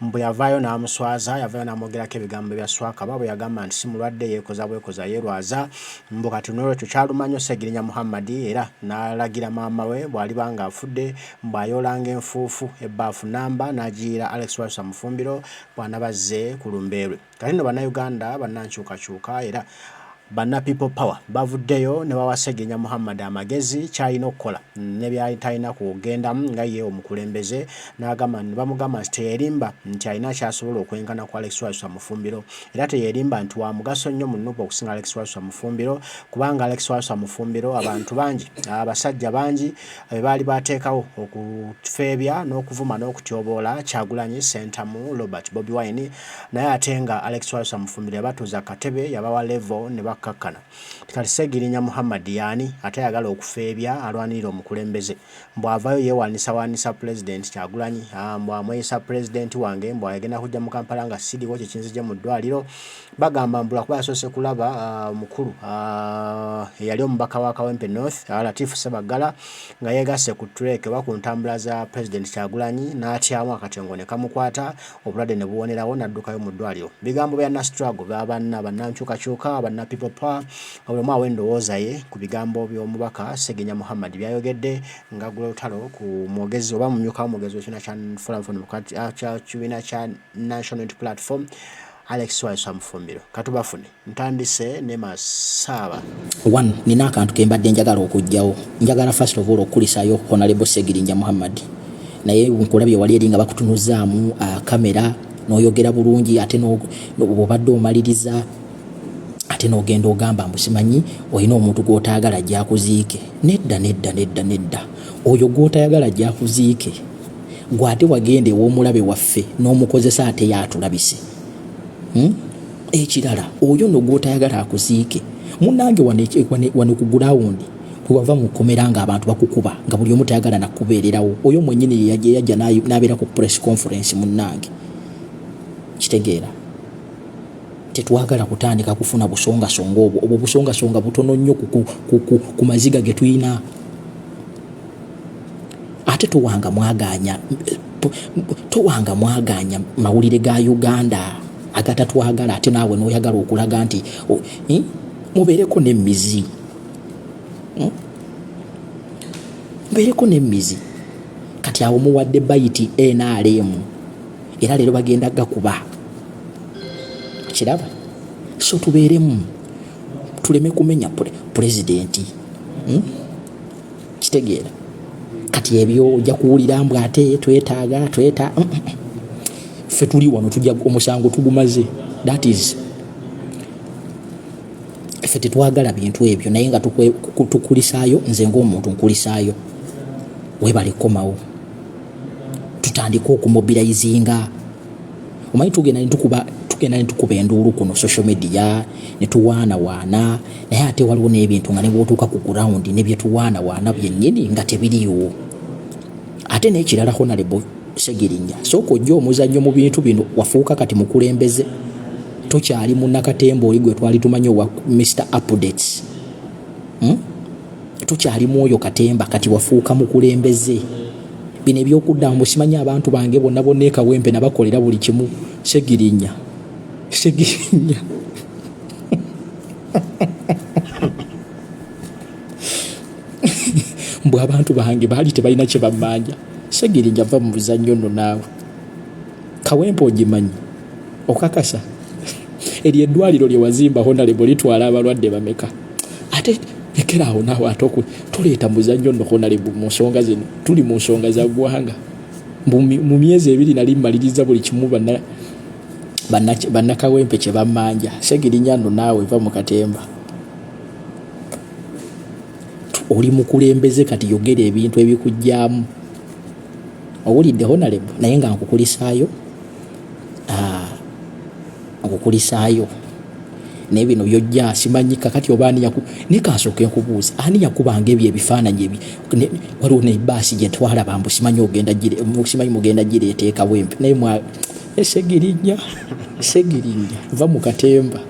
Mbu yavaayo n'amuswaza, yavaayo n'amwogerako ebigambo bya Swakaba bwe yagamba nti si mulwadde yeekoza bwekoza yeerwaza. Mbu kati n'olwekyo kyaluma nnyo Ssegirinya Muhammad era n'alagira maama we bw'aliba ng'afudde mbu ayoolanga enfuufu ebbaafu nnamba n'agiyiira Alex Walesa Mufumbiro bw'anaba azze ku lumbe lwe. Kati nno Bannayuganda bannankyukakyuka era banna People Power bavuddeyo ne bawa Ssegirinya Muhammad amagezi ky'alina okukola ne by'atalina kugendamu nga ye omukulembeze n'agamba ne bamugamba nti teyerimba nti alina ky'asobola okwenkana ku Alex Walusa Mufumbiro era teyerimba nti wa mugaso nnyo mu nup okusinga Alex Walusa Mufumbiro kubanga Alex Walusa Mufumbiro abantu bangi abasajja bangi be baali baateekawo okufeebya n'okuvuma n'okutyoboola Kyagulanyi Ssentamu Robert Bobi Wine naye ate nga Alex Twalisa Mufumbi yabatuuza katebe yabawa levo ne bakkakkana kati Ssegirinya Muhammad yaani ate ayagala okufeebya alwanirira omukulembeze mbu avaayo yeewaanisawaanisa pulezidenti Kyagulanyi ah, mbu amweyisa pulezidenti wange mbu agenda kujja mu Kampala nga siriwo kye kinzigye mu ddwaliro bagamba mbu lwakuba yasoose kulaba ah, mukulu ah, eyali omubaka wa Kawempe North Latifu Ssebaggala nga yeegasse ku tureeke oba ku ntambula za pulezidenti Kyagulanyi n'atyamu akatengo ne kamukwata obulwadde ne buwonerawo n'addukayo mu ddwaliro. Bigambo bya Nastruggle ba banna bannankyukakyuka banna People Power nga buli omu awa endowooza ye ku bigambo by'omubaka Ssegirinya Muhammad byayogedde ng'aggula olutalo ku mwogezi oba mumyuka w'omwogezi w'ekibiina kya Forum for Democratic ah, kya kibiina kya National Unity Platform Alex Waiswa Mufumbiro. Katubafune. Ntandise ne masaaba. One, nina akantu kembadde njagala okujjawo. Njagala first of all okukulisayo Honorable Segirinja Muhammad. Naye nkulabye wali eri nga bakutunuzaamu uh, kamera noyogera bulungi ate obadde omaliriza ate nogenda ogamba mbusimanyi olina omuntu gwotayagala jakuziike nedda nedda nedda nedda oyo gwotayagala jakuziike gwe ate wagenda ewomulabe waffe nomukozesa ate yatulabise hmm? ekirala oyo no gwotayagala akuziike munange wano ku gulawundi wewava mu kkomera nga abantu bakukuba nga buli omu tayagala nakubeererawo oyo mwenyini yeyajja nabeera ku press conference munange kitegeera tetwagala kutandika kufuna busongasonga obwo obwo busongasonga butono nnyo ku maziga getulina ate towanga mwaganya towanga mwaganya mawulire ga uganda agatatwagala ate naawe noyagala okulaga nti eh, mubeereko nemizi hmm? mubeereko nemizi kati awo muwadde bayiti nrm era leero bagenda gakuba kiraba so tubeeremu tuleme kumenya pulezidenti hmm? kitegeera kati ebyo ojja kuwulira mbu ate twetaaga tweta mm, mm, mm. ffe tuli wano tujja omusango tugumaze that is ffe tetwagala bintu ebyo naye nga tukulisaayo nze ngaomuntu nkulisaayo webale kukomawo tutandike okumobilizinga omanyi tugenda netukuba tugenda netukuba enduulu kuno social media netuwaanawaana naye ate waliwo n'ebintu nga nebwotuuka ku ground nebyetuwaanawaana byennyini nga tebiriwo ate nekirala honalebo segirinya sooka ojja omuzannyo mu bintu bino wafuuka kati mukulembeze tokyali munakatemba oli gwe twali tumanyi owa mr updates hmm? tukyali mwoyo katemba kati wafuuka mukulembeze bino ebyokuddamu bwesimanya abantu bange bonna bonna ekawempe nabakolera buli kimu segirinya segirinya mbu abantu bange baali tebalina kyebamanja segirinya va mu buzannyo nno naawe kawempe ogimanyi okakasa eryo eddwaliro lyewazimba honalebo litwala abalwadde bameka ate lekera awo naawe ate oku tuleeta muzannyo nno honalebu mu nsonga zino tuli mu nsonga za ggwanga mu myezi ebiri nali mmaliriza buli kimu bannakawempe kye bammanja segirinya nno naawe va mu katemba oli mukulembeze kati yogera ebintu ebikugyamu owulidde honalebu naye nga nkukulisaayo ah, okukulisaayo naye bino byojja simanyi kakati oba ani yaku naye kansooke nkubuuza ani yakubanga ebyo ebifaananyi ebi waliwo nebaasi gye twalaba mbu simanyi ogenda simanyi mugenda gira eteekawo empi naye mwa esegirinya segirinya va mu katemba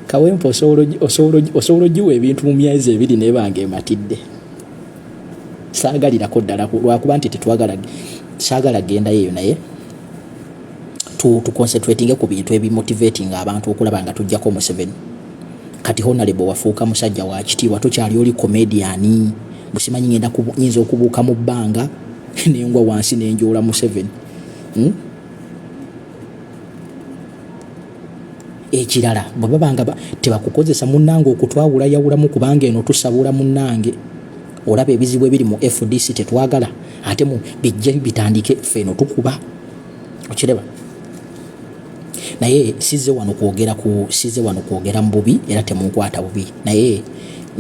kawempe osobola ogiwa ebintu mu myezi ebiri naye bange ematidde saagalirako ddala lwakuba nti tetwagala saagala gendayo eyo naye tuconcentratinge ku bintu ebimotivating abantu okulaba nga tujjako museveni kati honalebo wafuuka musajja wakitiibwa tokyali oli komediani busimanyi ngenda nyinza okubuuka mu bbanga nengwa wansi nenjoola museveni hmm? ekirala bwe baba nga tebakukozesa munnange okutwawula yawulamu kubanga eno tusabula munnange olaba ebizibu ebiri mu fdc tetwagala ate mu bijja bitandike ffe eno tukuba okiraba naye size wano kwogera ku size wano kwogera mu bubi era temunkwata bubi naye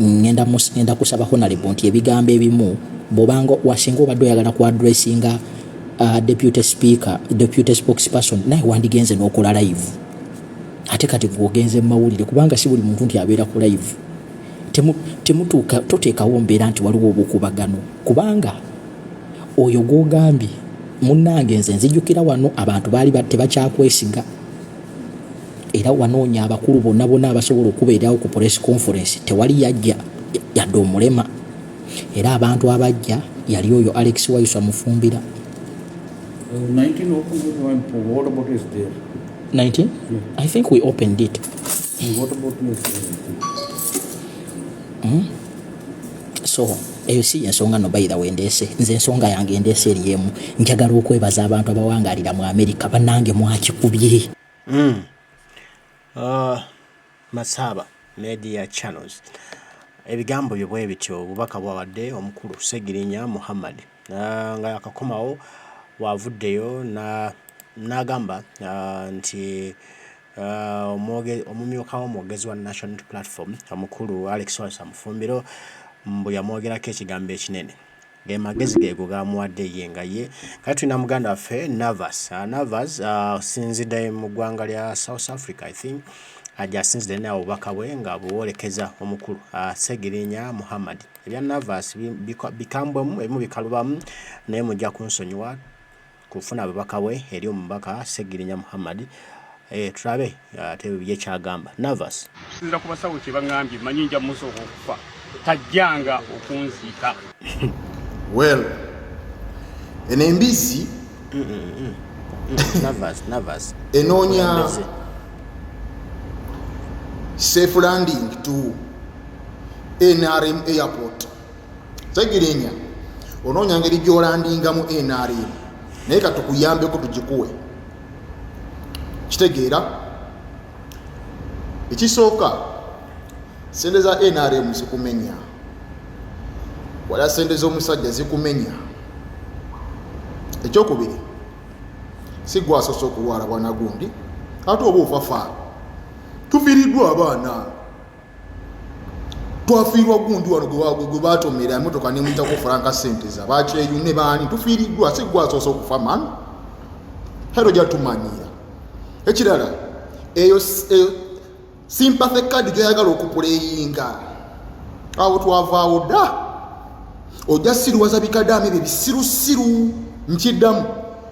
ngenda kusaba honalebo nti ebigambo ebimu bwobanga wasinga obadde oyagala ku adressinga uh, deputy speaker deputy spokesperson naye wandigenze n'okola live ate kati gwogenze mu mawulire kubanga si buli muntu nti abeera ku live temutuuka toteekawo mbeera nti waliwo obukubagano kubanga oyo gwogambye munnange nze nzijukira wano abantu baali tebakyakwesiga era wanoonya abakulu bonna bonna abasobola okubeerawo ku press conference tewali yajja yadde omulema Era abantu abajja yali oyo Alex Waiswa Mufumbira. 19 opened it one for what about is there? 19? Yeah. I think we opened it. And what about is hmm? So, eyo si ensonga no bayira wendeese nze ensonga yange endeese eri emu njagala okwebaza abantu abawangalira mu amerika banange mwakikubye mm. uh. Masaaba media channels ebigambo byo bwe bityo obubaka bwawadde omukulu Ssegirinya Muhammad ah, nga yakakomawo bwavuddeyo na- n'agamba ah, nti ah, omwoge- omumyuka w'omwogezi wa National Unity Platform omukulu Alex Walesa Mufumbiro mbu yamwogerako ekigambo ekinene Ge magezi geego gamuwadde ye nga ye. Kati tulina muganda waffe Navas. Uh, Navas uh, sinzidde mu ggwanga lya South Africa I think ajasinzidde naye obubaka bwe nga buwolekeza omukulu uh, Segirinya Muhammad. Ebya Navas bikambwemu ebimu bikalubamu naye mujja kunsonyiwa kufuna babaka we eri omubaka Ssegirinya Muhammad eh, tulabe ate ye kyagamba Navas. Okusinzira ku basawo kye bangambye manyi nja musooka okufa tajjanga okunziika. Well, eno embizzi mm, mm, mm. enoonya safe landing to NRM airport segirinya onoonya ngeri gyolandingamu nrm naye katukuyambeko tugikuwe kitegeera ekisooka sente za nrm zikumenya wala sente z'omusajja zikumenya ekyokubiri si gwasoose okulwala bwana gundi ate oba ofafa tufiiriddwa abaana twafiirwa gundi wano gwe batomera emotoka nemuyitako franka sente za bakyeyune baani tufiiriddwa si gwasoose okufa man hero jatumanyira ekirala eyo simpathe kadi gyoyagala okupuleyinga awo twavaawo dda ojja siriwaza bikadamu ebyo bisirusiru nkiddamu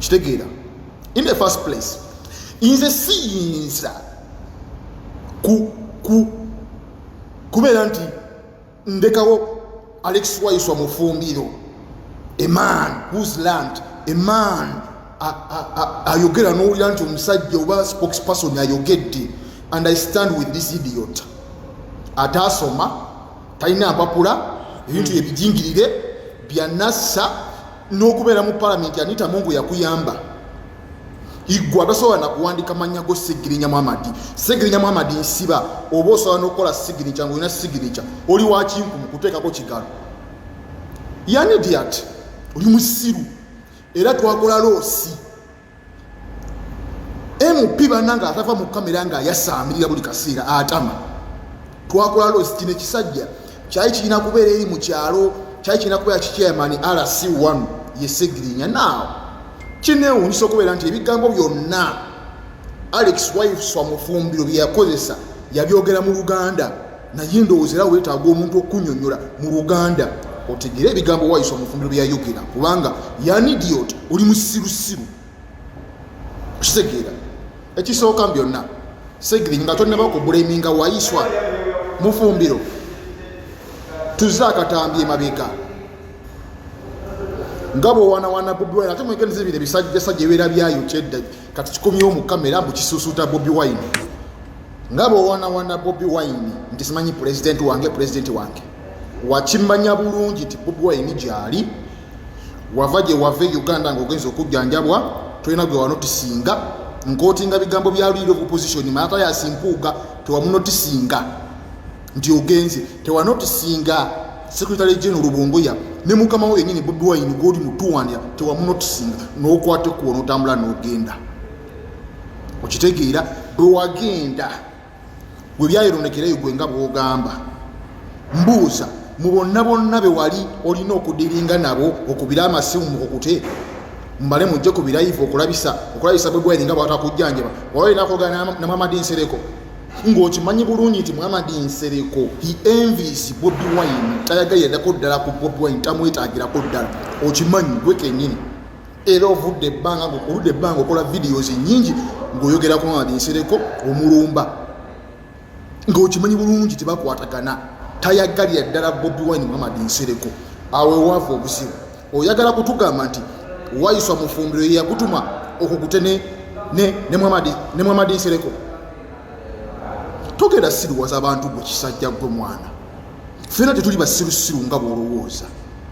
kitegeera in the first place nze siyinza ku ku kubeera nti ndekawo alex waiswa mufumbiro a man whos land a man ayogera nowulira nti omusajja oba spokesperson ayogedde and i stand with this idiot ataasoma talina mpapula ebintu ebijingirire byanassa n'okubeera mu palamenti anita mungu yakuyamba igwe atasobola nakuwandika mannya go sigirinya muhamadi sigirinya muhamadi nsiba oba osobola nokukola sigirinya ngaolina sigirinya oli wakinku mukuteekako kigalo yanidiat oli musiru era twakola loosi mp banange atava mu kamera nga ayasaamirira buli kaseera atama twakola losi kino ekisajja kyali kirina kubeera eri mu kyalo kyali kirina kubeera kikyamani rc one yesegirinya naawo kinewunyisa okubeera nti ebigambo byonna alex wifes wamufumbiro byeyakozesa yabyogera mu luganda naye ndowooza era weetaaga omuntu okunyonyola mu luganda otegere ebigambo wayisa omufumbiro byeyayogera kubanga yanidiot oli musirusiru okitegeera ekisooka byonna segiri nga tonaba okubuleminga wayiswa mufumbiro tuze akatambi emabega nga bwewanawana bobi wine ate mwegendeza ebire bisajjasajja ebeera byayo kyedda kati kikomyewo mu kamera mbu kisusuuta bobi wine nga bwewanawana bobi wine nti simanyi pulezidenti wange pulezidenti wange wakimanya bulungi nti bobi wine gyali wava gye wava e uganda ngaogenza okujjanjabwa tolina gwe wanotisinga nkotinga bigambo bya lead of opposition maata yasimpuuga tewamunotisinga nti ogenze tewanotisinga secretary general lubunguya ne mukama wo yenyini bobi wine gwoli mutuwandira tewamunotisinga nokwate kuwa notambula nogenda no okitegeera bwewagenda webyayironekerayo gwe nga bwogamba mbuuza mu bonna bonna bewali olina okudiringa nabo okubira amasimu mukukute mumale mujje ku birayivu okulabisa okulabisa bwegwaire nga bwatakujjanjaba waba olina kogana namwamadi nsereko ng'okimanyi bulungi nti muhamadi nsereko he envis bobi wine tayagayiradako ddala ku bobi wine tamwetagirako ddala okimanyi gwe kenyini era ovudde ebbanga oludde ebbanga okola videos nyingi ng'oyogera ku mamadi nsereko omulumba ng'okimanyi bulungi tebakwatagana tayaggalira ddala bobi wine muhamadi nsereko awo ewaavu obuzibu oyagala kutugamba nti wayiswa mufumbiro yeyakutuma okukute ne muhamadi nsereko togera siruwaza abantu gwe kisajja gwe mwana fena tetuli basirusiru nga bwolowooza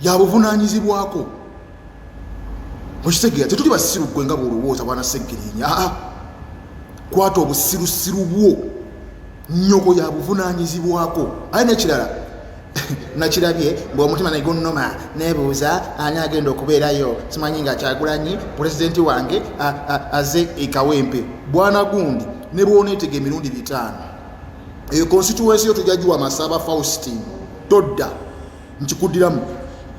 yabuvunaanyizibwako mukitegeera tetuli basiru gwe nga bwolowooza bwana seggirinya aa ah, kwata obusirusiru bwo nyoko yabuvunaanyizibwako aye nekirala nakirabye mbu omutima negunuma nebuuza ani agenda okubeerayo simanyi nga kyagulanyi pulezidenti wange aze ekawempe bwana gundi ne bwoneetega emirundi bitaano eyo konsituwensi yo tujagiwa masaba faustin todda nkikuddiramu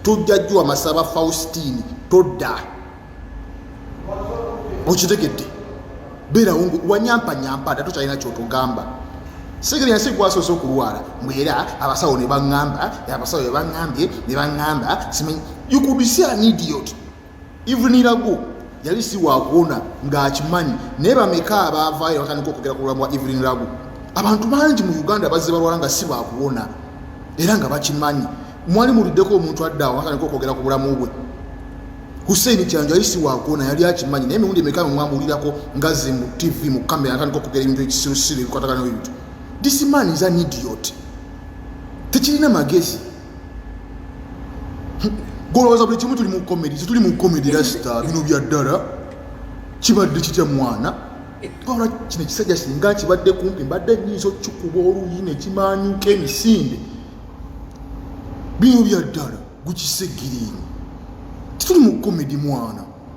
tujja jjuwa masaba faustini todda okitegedde beerawo wanyampanyampa ate tokyalina kyotugamba sigiri yansi gwasoose okulwala mweera abasawo nebaŋamba abasawo bebaŋambye nebaŋamba simanyi you could see an idiot ivunirago yali si wakuwona ng'akimanyi naye bameka abaavaayo batandika okugera ku bulamu bwa evelyn lagu abantu bangi mu uganda bazze balwala nga si bakuwona era nga bakimanyi mwali muliddeko omuntu addaawo batandika okwogera ku bulamu bwe hussein kyanjo yali si wakuwona yali akimanyi naye emiwundi emeka mwamulirako ngaze mu tv mu kamera atandika okugera ebintu ekisirusiru ebikwatagana ebintu this man is an idiot tekirina magezi golowooza buli kimu tuli mu comedy tetuli mu comedy rasita bino bya ddala kibadde kitya mwana wabula kino ekisajja singa kibadde kumpi mbadde nyinza okukikuba oluyi nekimanyuka emisinde bino bya ddala gukisigirini tituli mu comedy mwana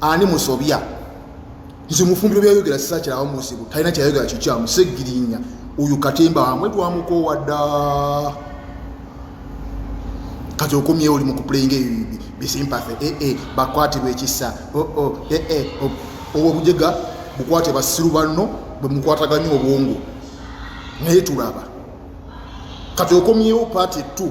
ani musobya nze mufumbiro byayogera sisakyirawo muzibu talina kyayogera kikyamu segirinya oyo katemba wamwe twamukowa dda kati okomyewo oli mukupulainga eyo bisimpathe ee eh, eh, bakwatibwa ekisa oo oh, oh, ee eh, oh. obwo obujega bukwate basiru banno bwemukwataganya obwongo naye tulaba kati okomyewo paati two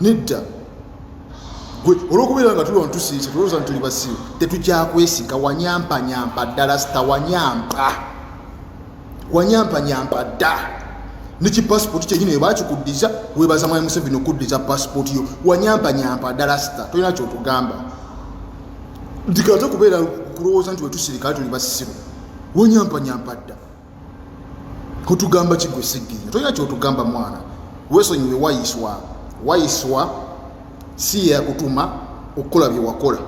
nedda gwe olwokubeera nga tulwa ntusiise tulowooza nti tuli basiru tetukyakwesika wanyampanyampa ddala sita wanyampa wanyampanyampa dda neki passport kyenyini ebakikuddiza webaza mwami museveni okuddiza passport yo wanyampanyampa ddala sita tolina kyotugamba ndikaze kubeera kulowooza nti wetusirikale tuli basiru wanyampanyampa dda otugamba kigwe sigginya tolina kyotugamba mwana wesonyiwe wayiswa wayiswa si yakutuma okukola byewakola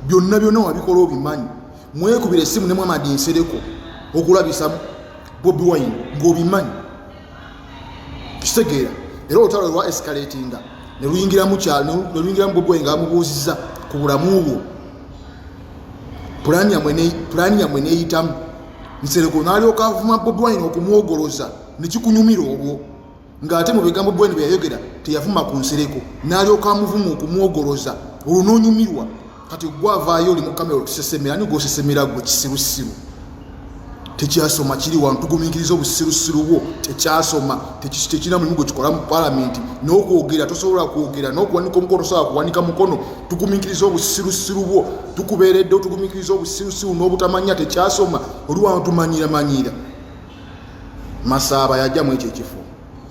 byonna byonna wabikola obimanyi mwekubira esimu nemwamadi nsereko okulabisa bobi wine ngaobimanyi kitegeera era olutalo lwa escalatinga neluyingiramu kyalo neluyingiramu bobi wine ngaamubuuziza ku bulamu bwo pulaani yamwe neyitamu nsereko nalyoka avuma bobi wine okumwogoloza nekikunyumira obwo ngaate mu bigambo bweni byeyayogera teyavuma ku nsereko nalyoka amuvuma okumwogoloza olwo nonyumirwa kati gwavaayo oli mukamera otusesemera ni gwosesemera gwe kisirusiru tekyasoma kiri wantugumiikiriza obusirusiru bwo tekyasoma tekirina mulimu gwe kikola mu palamenti nokwogera tosobola kwogera nokuwanika omukono tosobola kuwanika mukono tugumiikiriza obusirusiru bwo tukubeeredde otugumikiriza obusirusiru n'obutamanya tekyasoma oli wano tumanyiramanyira masaaba yajja mu ekyo ekifo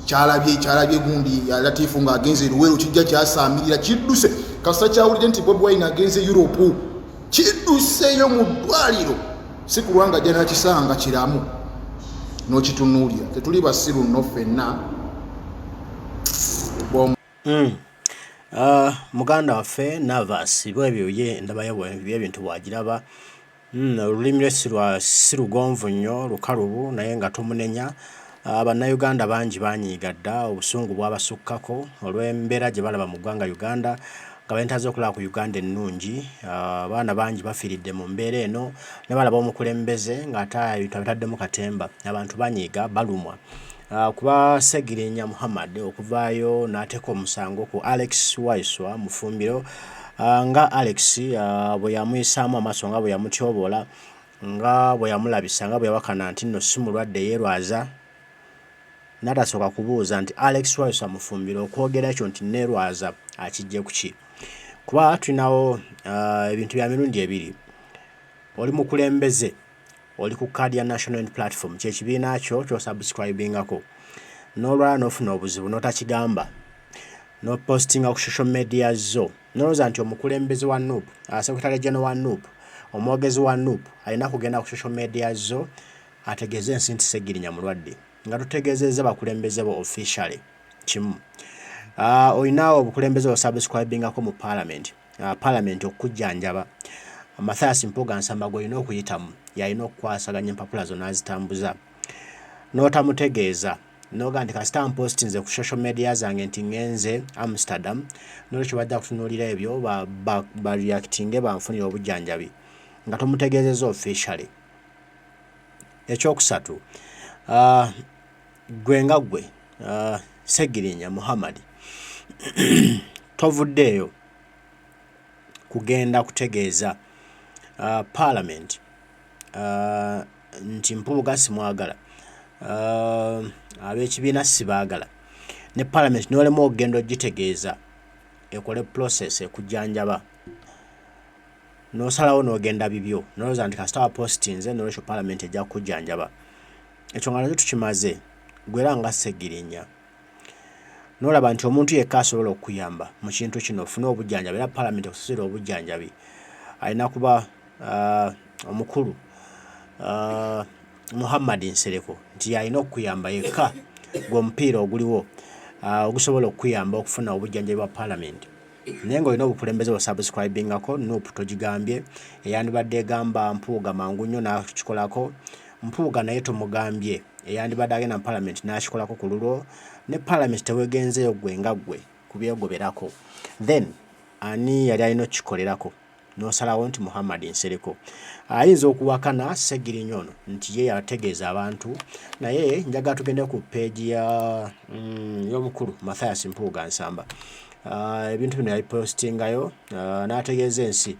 kyalabye kyalabye gundi latifu ng'agenze eruweero kijja kyasaamirira kidduse kasita kyawulidde nti bobi wine agenze europe kidduseeyo mu ddwaliro si kulwanga ajja nakisanga kiramu n'okitunuulira tetuli basiru nno ffenna Mm. Uh, muganda waffe navas bwebyo ye ndabayo byebintu bwagiraba mm, olulimi lwe si lugonvu nnyo lukalubu naye nga tumunenya uh, bannayuganda bangi banyiiga dda obusungu bwabasukkako olw'embeera gye balaba mu ggwanga uganda nga balina zokulaba ku uganda ennungi ah, abaana bangi bafiiridde mu mbeera eno ne balaba omukulembeze ng'ate ebintu abitaddemu katemba abantu banyiiga balumwa Ah, kuba segirinya muhammad okuvaayo n'ateeka omusango ku alex waiswa mufumbiro ah, nga alex ah, bwe yamuyisaamu amaaso nga bwe yamutyoboola nga bwe yamulabisa nga bwe yawakana nti nno si mulwadde yeerwaza n'atasooka kubuuza nti alex waiswa mufumbiro okwogera ekyo nti neerwaza akijje ku ki kuba tulinawo ebintu bya mirundi ebiri oli mukulembeze Oli ku card ya National Unity Platform, kye kibiina kyo ky'osubscribingako n'olwala n'ofuna obuzibu n'otakigamba n'opostinga ku social media zo n'olowooza nti omukulembeze wa nup uh, secretary general wa nup omwogezi wa nup alina kugenda ku social media zo ategeeze ensi nti segirinya mulwadde nga tutegeezezza bakulembeze bo officially kimu uh, olina obukulembeze osubscribingako mu palamenti uh, palamenti okukujjanjaba mathias mpuga nsamba gwolina okuyitamu yalina okukwasaganya empapula zona azitambuza n'otamutegeeza noga nti kasita mpostinze ku social media zange nti ngenze amsterdam nolwekyo bajja kutunuulira ebyo bareactinge ba, ba banfunire obujjanjabi nga tomutegeezeza officially ekyokusatu uh, Ggwe nga ggwe Ssegirinya Muhammad tovuddeeyo kugenda kutegeeza Palamenti nti Mpuuga simwagala, ab'ekibiina sibaagala ne Palamenti n'olemwa okugenda okugitegeeza ekole process ekujanjaba n'osalawo n'ogenda bibyo n'olowooza nti kasita wapositinze noolwekyo Palamenti ejja kukujanjaba. Ekyo nga nakyo tukimaze, gwe era nga Ssegirinya n'olaba nti omuntu yekka asobola okukuyamba mu kintu kino ofune obujjanjabi era palamenti ekusasira obujjanjabi alina kuba uh, omukulu uh, Muhammad Nsereko nti yalina okukuyamba yekka gwe omupiira oguliwo uh, ogusobola okukuyamba okufuna obujjanjabi bwa palamenti naye nga olina obukulembeze bwa subscribingako nup togigambye eyandibadde egamba mpuuga mangu nnyo nakikolako Mpuuga naye tomugambye eyandibadde agenda mu parliament nakikolako kululwo ne parliament tewegenzeyo gwe nga gwe kubyegoberako then ani yali alina okukikolerako nosalawo nti Muhammad Nsereko ayinza okuwakana Ssegirinya ono nti ye yategeeza abantu naye njagala tugende ku peegi ya mm, y'omukulu Mathias Mpuuga Nsamba ah, ebintu bino yabipostingayo ah, n'ategeeza ensi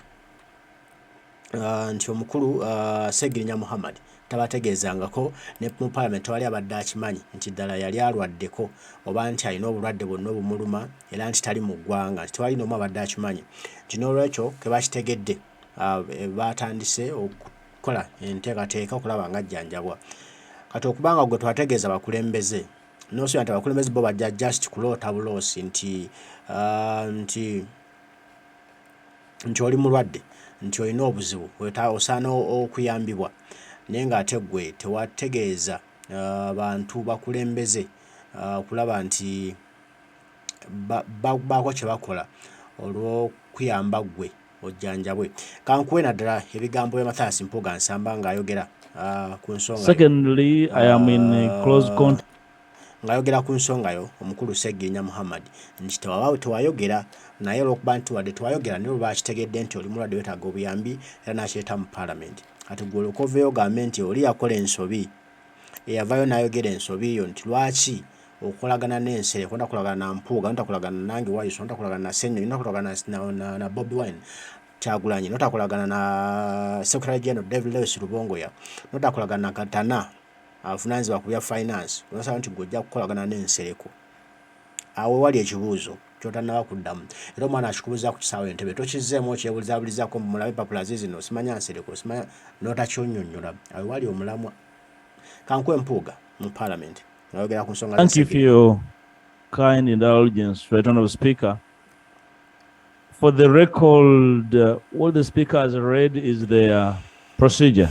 nti omukulu Ssegirinya Muhammad tabategeezangako ne mu Palamenti tewali abadde akimanyi nti ddala yali alwaddeko oba nti alina obulwadde bwonna obumuluma era nti tali mu ggwanga nti tewali n'omu abadde akimanyi nti n'olwekyo ke bakitegedde baatandise okukola enteekateeka okulaba nga ajjanjabwa kati okuba nga gwe twategeeza bakulembeze n'osuubira nti abakulembeze bo bajja just kuloota buloosi nti nti nti oli mulwadde nti olina obuzibu osaana okuyambibwa naye nga ate gwe tewategeeza bantu bakulembeze okulaba nti bakubaako kye bakola olw'okuyamba ggwe ojjanjabwe. Kankuwe naddala ebigambo bya Mathias Mpuuga Nsamba ng'ayogera ku nsonga. Secondly, I am in close contact. Ng'ayogera ku nsongayo omukulu Ssegirinya Muhammad nti tewabaawo tewayogera naye olwokuba nti wadde tewayogera naye olwo bakitegedde nti oli mulwadde wetaaga obuyambi era n'akireeta mu Palamenti kati gwe olyoke oveeyo ogambe nti oli yakola ensobi eyavaayo n'ayogera ensobi yo nti lwaki okolagana n'ensere konda kolagana na Mpuuga notakolagana nange Wayiso notakolagana na Ssenyonyi notakolagana na Bobi Wine Kyagulanyi notakolagana na Secretary General David Lewis Lubongoya notakolagana na Katana avunaanyizibwa ku bya finance n'osaba nti gwe ojja kukolagana ne Nsereko awo wali ekibuuzo kyotannaba kuddamu era omwana akikubuza ku kisaawe entebe tokizzeemu okyebulizabulizaako mulabe papula ze zino osimanya nsereko osimanya n'otakyonyonyola awo wali omulamwa kankuwa empuuga mu parliament ngayogera ku nsonga Thank you for your kind indulgence, Right Honorable Speaker. For the record, uh, what the Speaker has read is the uh, procedure.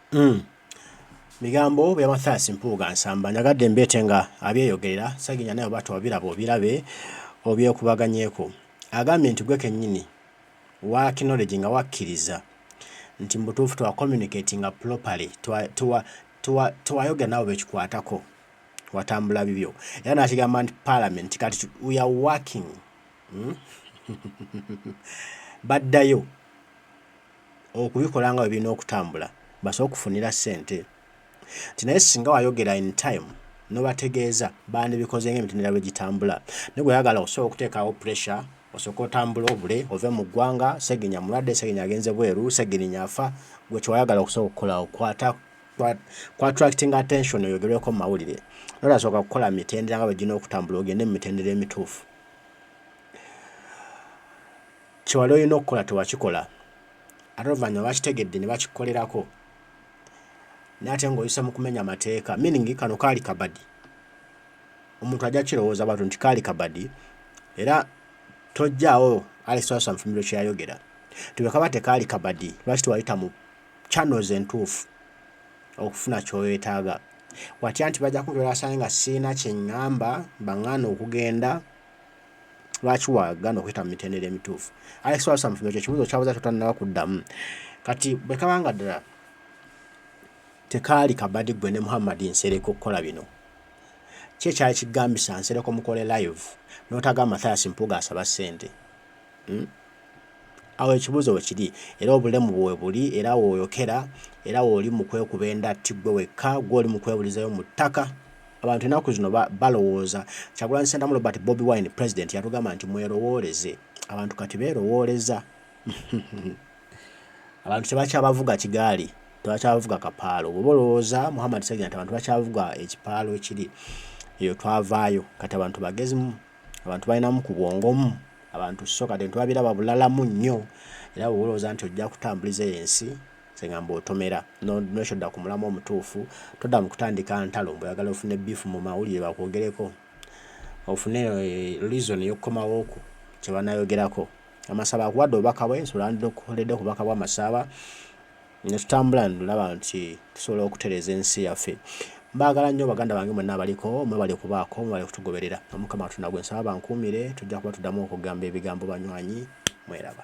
Mm. Migambo bya Mathias Mpuuga Nsamba njagadde mbeete nga abyeyogerera saginya naye oba tobiraba obirabe obyekubaganyeko agambye nti gwe kennyini wa knowledge nga wakkiriza nti mu butuufu twa communicate nga properly tewayogera nabo bekikwatako watambula bibyo era nakigamba nti parliament kati we are working hmm? baddayo okubikola nga bwebirina okutambula basobole okufunira ssente nti naye singa wayogera in time nobategeeza bandibikoze nga emitendera bwegitambula naye gweyagala osobola okuteekawo pressure osooka otambula obule ove mu ggwanga segenya mulwadde segenya agenze bweru segirinya afa gwe kyewayagala okusobola okukolawo kwata kwattracting attention oyogerweko mu mawulire nolasooka kukola mitendera nga bwegirina okutambula ogende mu mitendera emituufu Kye wali olina okukola tewakikola, ate oluvannyuma bakitegedde ne bakikukolerako n'ate ng'oyise mu kumenya amateeka. Meaning kano kaali kabadi. Omuntu ajja kirowooza bwatu nti kaali kabadi era tojjaawo Alex Twasa Mfumbiro kye yayogera nti bwe kaba tekaali kabadi lwaki tewayita mu channels entuufu okufuna ky'oyetaaga watya nti bajja kunkolera asange nga sirina kye ŋŋamba baŋŋaana okugenda lwaki wagana okuyita mu mitendera emituufu alex walsa mufumbe ekyo ekibuuzo kyabuza kyotanaba kuddamu kati bwe kabanga ddala tekaali kabadi gwe ne muhammad nsereko okukola bino ki ekyali kigambisa nsereko mukole live notagamba mathayas mpuuga asaba ssente hmm? Awo ekibuuzo we kiri, era obulemu bwo we buli, era w'oyokera, era w'oli mu kwekuba endatti ggwe wekka, ggwe oli mu kwebulizayo mu ttaka. Abantu ennaku zino balowooza, Kyagulanyi Sentamu Robert Bobi Wine President yatugamba nti mwerowooleze. Abantu kati beerowooleza. Abantu tebakyabavuga kigaali, tebakyabavuga kapaalo. Bw'oba olowooza Muhammad Ssegirinya nti abantu bakyavuga ekipaalo ekiri eyo twavaayo, kati abantu bagezi. abantu balinamu ku bwongomu abantu so kati ntwabiraba bulalamu nnyo era bwoba olowooza nti ojja kutambuliza eyo ensi sengamba otomera nokyodda ku mulamu omutuufu todda mu kutandika ntalo mbu oyagala ofune bifu mu mawulire bakwogereko ofune eh, reason yokukomawooku kyebanayogerako amasaba akuwadde obubaka bwe nsobola ndidde okukoledde ku bubaka bwamasaaba ne tutambula ndaba nti tusobola okutereeza ensi yaffe mbaagala nnyo baganda bange mwenna abaliko mwebali okubaako mwebali kutugoberera omukama katonda gwe nsaba bankuumire tujja kuba tuddamu okugamba ebigambo banywanyi mweraba